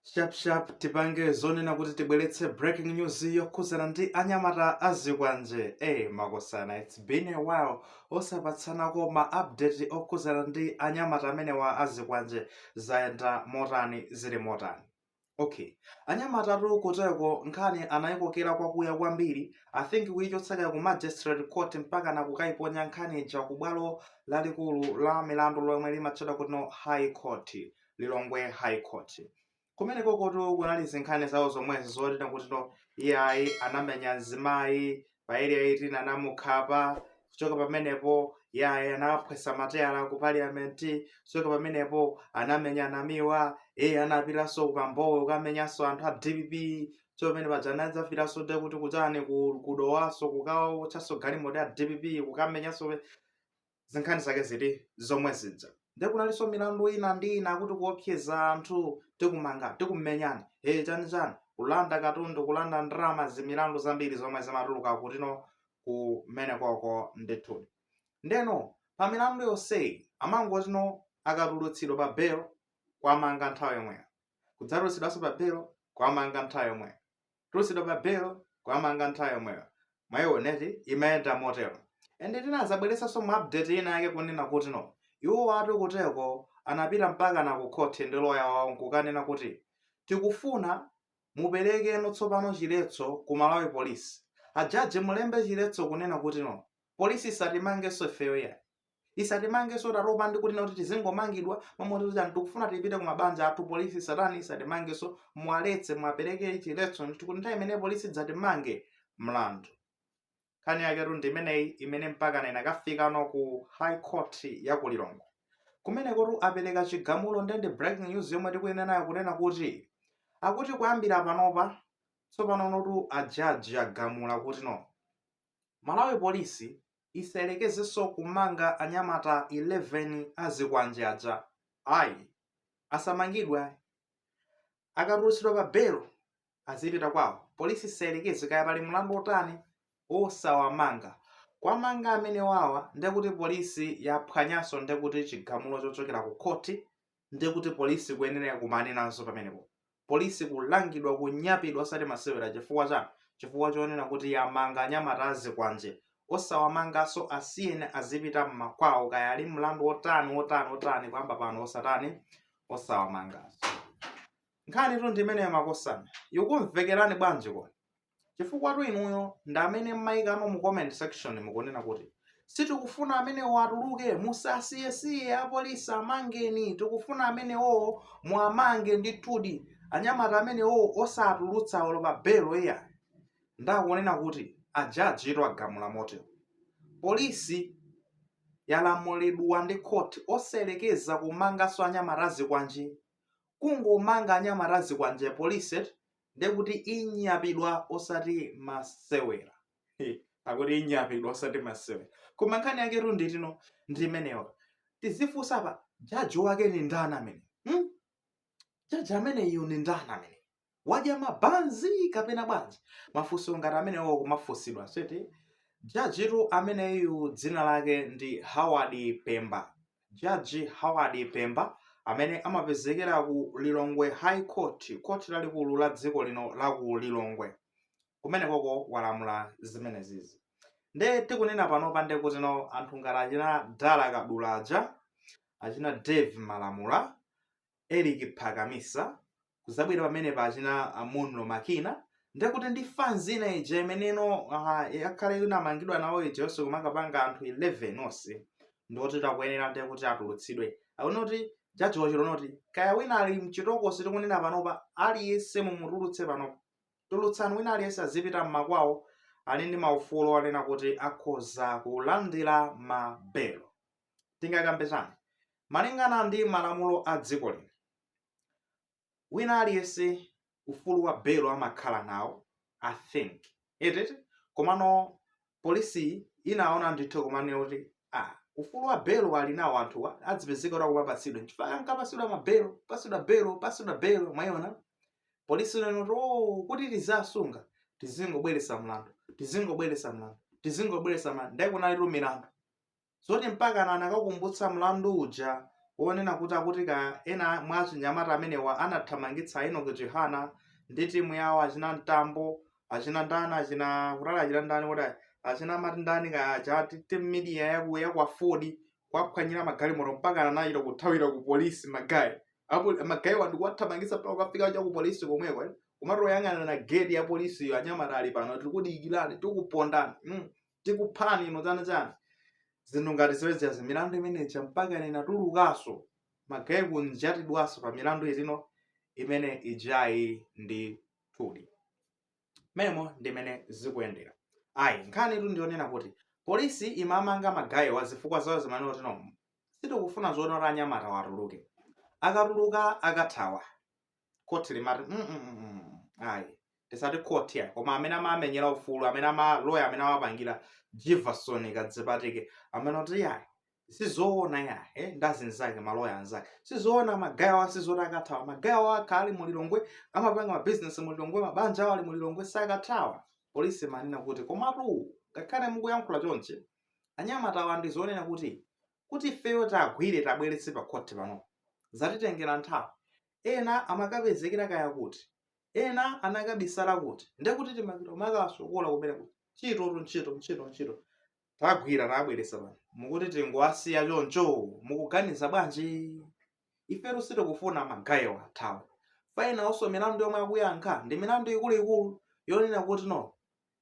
shapshap tipange zonena kuti tibweretse breaking news yokhuzana ndi anyamata azikwanje e makosana its been a while osapatsanako ma update okhuzana ndi anyamata amenewa azikwanje zayenda motani zili motani okay anyamata awatu kuteko nkhani anayikokera kwakuya kwambiri i think kuyichotseka ku magistrate court mpaka nakukayiponya nkhani ija ku bwalo lalikulu la milandu lomwe limatchedwa kutino high court lilongwe high court kumenekoko kunali zinkhani zawo zomwezi zoti nakutino iyayi anamenya mzimayi pa area 18 anamukhapa kuchoka pamenepo yayi anaphwetsa matayala ku parliament kuchoka pamenepo anamenya namiwa iye anapitanso ku Mbowe kukamenyanso anthu a dpp chomene paja anadzafiranso de kuti kuchani ku- kudowanso kukawaotcheranso galimoto ya dpp kukamenyanso zinkhani zake ziti zomwe zija nde kunalinso milandu ina ndi ina kuti kuopseza anthu tikumanga tikumenyani e chani chani kulanda katundu kulanda ndalama zimilandu zambiri zomwe zimatuluka kutino kumenekoko ndithudi ndeno pa milandu yonseyi amangotino akatulutsidwa pa belo kuwamanga nthawi yomweyo kudzatulutsidwanso pa belo kwamanga nthawi yomweyo kutulutsidwa pa bail kuwamanga nthawi yomweyo mwaioneti imayenda motero nde tinadzabweretsanso mu update ina yake kunena kuti no iwowatu kuteko anapita mpaka na kukhoti ndi loya wawo nkukanena kuti tikufuna muperekeno tsopano chiletso ku malawi polisi ajaji mulembe chiletso kunena kuti no polisi isatimangenso ifeyo yayi isatimangenso tatopa ndi kunena kuti tizingomangidwa momwe tikuti anthu tikufuna tipite ku mabanja athu polisi isatani isatimangenso muwaletse muwapereke chiletso ndithu kuti nthawi imene polisi idzatimange mlandu nkhani yaketu ndi imeneyi imene mpakana inakafikano ku high court ya ku lilongwe kumenekotu apereka chigamulo nde ndi breaking news yomwe tikubwera nayo kunena kuti akuti kuyambira panopa tsopano ndithu ajaji agamula kuti no malawi polisi isayerekezenso kumanga anyamata 11 a zikwanje aja ayi asamangidwe ayi akatulutsidwa pa belo azipita kwawo polisi isayerekeze kaya pali mlandu otani osawamanga kuwamanga amenewawa ndekuti polisi yaphwanyanso ndekuti chigamulo chochokera ku khoti ndekuti polisi kuyenera kukumana nazo pamenepo polisi kulangidwa kunyapidwa osati masewera chifukwa chani chifukwa chonena kuti yamanga anyamata azikwanje osawamangaso asiyeni azipita mmakwawo kaya ali ndi mlandu wotani wotani wotani kuyamba pano osatani osawamangaso nkhanitu ndimeneyo makosana ikumvekerani bwanji koni Chifukwatu inuyo ndi amene mmaikamo mu comment section mukunena kuti sitikufuna amenewo atuluke, musawasiyesiye apolisi amangeni, tikufuna amenewowo muwamange ndithudi, anyamata amenewowo osatulutsa olo pa belo iyayi. Nde akunena kuti ajajitu agamula motero. Polisi yalamulidwa ndi khoti osayerekeza kumanganso anyamata azikwanje. Kungomanga anyamata azikwanje polisi eti? ndekuti inyapidwa osati masewera akuti inyapidwa osati masewera koma nkhani yaketu ndi yoti no ndi mmene tizifunsa apa jaji wake ndi ndani ameneyu? jaji ameneyu ndi ndani ameneyu wadya mabanzi kapena bwanji mafunso ngati amenewo kumafunsidwa eti jajitu ameneyu dzina lake ndi howard pemba Judge Howard Pemba amene amapezekera ku Lilongwe High Court, khoti lalikulu la dziko lino la ku Lilongwe kumenekoko walamula zimenezizi. Nde tikunena panopa nde kuti no anthu ngati achina Dyson Kadula aja, achina Dave Malamula, Eric Phakamisa, kuzabwera pamene pa achina ah, munlo makina ndekuti ndi fans ina ija imene yakhala ikumangidwa nawo ija yonse kumakapanga anthu 11 onse ndikuti takuyenera ndekuti atulutsidwe akuona kuti jaji wachilona kuti kaya wina ali mchitokosi tikunena panopa aliyense mumutulutse panopa tulutsani wina aliyense azipita mmakwawo ali ndi maufulu onena kuti akhoza kulandira mabelo tingakambe chani malingana ndi malamulo a dziko lino wina aliyense ufulu wa belo amakhala nawo i think eti eti komano polisi inaona ndithu komano kuti ah, ufulu wa belo ali nawo anthuwa adzipezeka kuti akupapatsidwa nchifukwa ankapatsidwa mabelo patsidwa belo patsidwa belo mwayiona polisi inanena kuti oh, kuti tizawasunga tizingobweretsa mlandu tizingobweretsa mlandu tizingobweretsa mlandu nde kunalitu milandu zoti mpakana anakakumbutsa mlandu uja wonena kuti akuti ka ena mwa anyamata amenewa anathamangitsa Enoch Chihana ndi timu yawo achina Mtambo achina ndani achina kuti achina ndani kuti achina amati ndani ka chati team media yakwa Ford kuwaphwanyira magalimoto mpaka anachita kuthawira ku polisi magayi apo magayiwa ndi kuwathamangitsa mpaka kukafika cha ku polisi komweko eh? kumatoyang'ana na gate ya polisiyo anyamata ali pano tikudikirani tikupondani mm. tikuphani inu chani chani zinthu ngati zimenezi milandu imeneja mpakana inatulukanso magaye kunjatidwanso pa milandu imene ijayi ndithudi momo ndi mmene zikuyendera ayi nkhanitu ndi yonena kuti polisi imamanga magayewa zifukwa zawo zimene zoti no sitikufuna zonena kuti anyamatawa atuluke akatuluka akathawa khoti limati mm, mm, mm, mm. ayi tisati khoti ya koma amene amamenyera ufulu amene maloya amene amapangira jivason kadzipatike amene oti yayi sizoona ya eh, ndi azinzake maloya anzake sizoona magayo awa sizoti akathawa magayo awo akhala ali mu Lilongwe amapanga mabizinesi mu Lilongwe mabanja awo ali mu Lilongwe sakathawa polisi imanena kuti komatu ngakhale mukuyankhula chonchi anyamatawa ndi zonena kuti kuti ifeyo tagwire tabweretse pa khoti pano zatitengera nthawi ena amakapezekera kaya kuti, ena anakabisala kuti, ndiye kuti timapita kumakawasokola kumene kuti ntchitotu ntchito ntchito ntchito tagwira tabweretsa pano mukuti tingowasiya choncho mukuganiza bwanji ifetu sitikufuna magayo athawa faina onso milandu yomwe akuyankha ndi milandu ikuluikulu yonena kuti no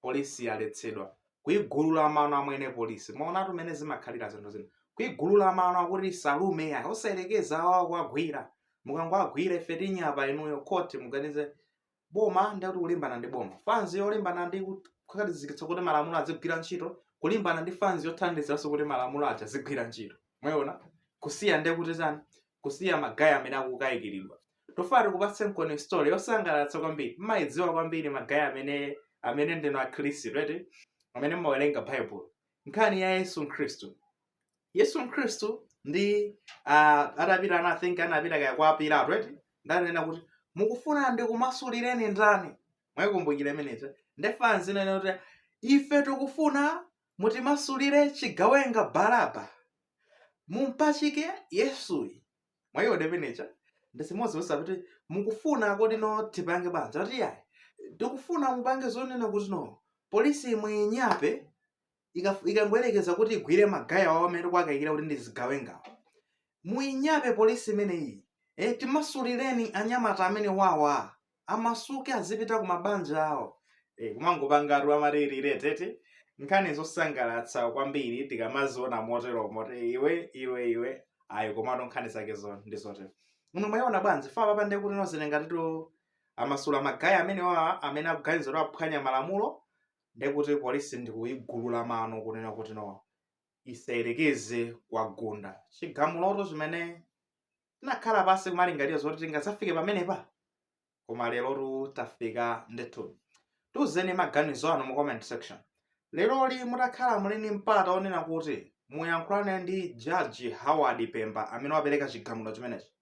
polisi yaletsedwa kuigulula mano amwene polisi mwaonatu mmene zimakhalira zinthu zina kuigulula mano akuti salume eya osayerekeza awa kuwagwira mukangowagwira ife tinyapani inuyo khoti muganize boma ndiye kuti kulimbana ndi boma fanzi yolimbana ndi kukhazikitsa kuti malamulo azigwira ntchito kulimbana ndi fanzi yothandizanso kuti malamulo aja azigwira ntchito mwaona kusiya ndekuti tani kusiya magayi amene akukayikiridwa Tikufuna tikupatsenkoni story yosangalatsa kwambiri. Mmaidziwa kwambiri magayi amene amene ndinu Akhristu eti amene mmawerenga Baibulo. Nkhani ya Yesu Khristu. Yesu Khristu ndi ah, atapita ana I think anapita kaya kwa Pilato eti ndanena kuti mukufuna ndikumasulireni ndani? Mwaikumbukira imeneyo. Nde fanzi inanena kuti ife tikufuna mutimasulire chigawenga Baraba. Mumpachike Yesuyu. mwayiwona imeneija ndi chimodzimodzi izi za kuti mukufuna kodi no tipange banja kuti yayi tikufuna mupange zonena kuti no polisi muinyape ikaf- ikangoyerekeza kuti igwire magayi awa amene tikuwakayikira kuti ndi zigawengawo muinyape polisi imeneyi eh, timasulireni anyamata amene wawa amasuke azipita ku mabanja awo e, komano kupanga atu amatirire tete nkhani zosangalatsa kwambiri tikamaziona motero moti iwe iwe iwe ayi komatu nkhani zakezo ndi zotero muno mwayiona bwanji fa papa ndiye kuti nozenengatitu amasula magayi amene awa amene akuwaganizira aphwanya malamulo ndiye kuti polisi ndikuyigulula mano kunena kuti no isayerekeze kuwagunda chigamulotu chimene tinakhala pansi kumalingalira zoti tingadzafike pamenepa koma lerotu tafika ndithu tiuzeni maganizo anu mu comment section leroli mutakhala muli ndi mpata onena kuti muyankhulane ndi jaji Howard Pemba amene wapereka chigamulo chimenechi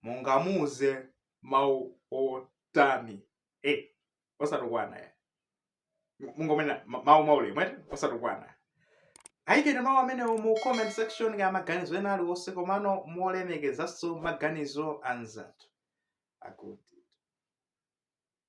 mungamuuze mawu otani osatukwana ya mungonena ma- mawu aulemu eti osatukwana ayikeni mawu amenewo mu comment section ngati maganizo ena aliwonse komano molemekezanso maganizo anzathu akuti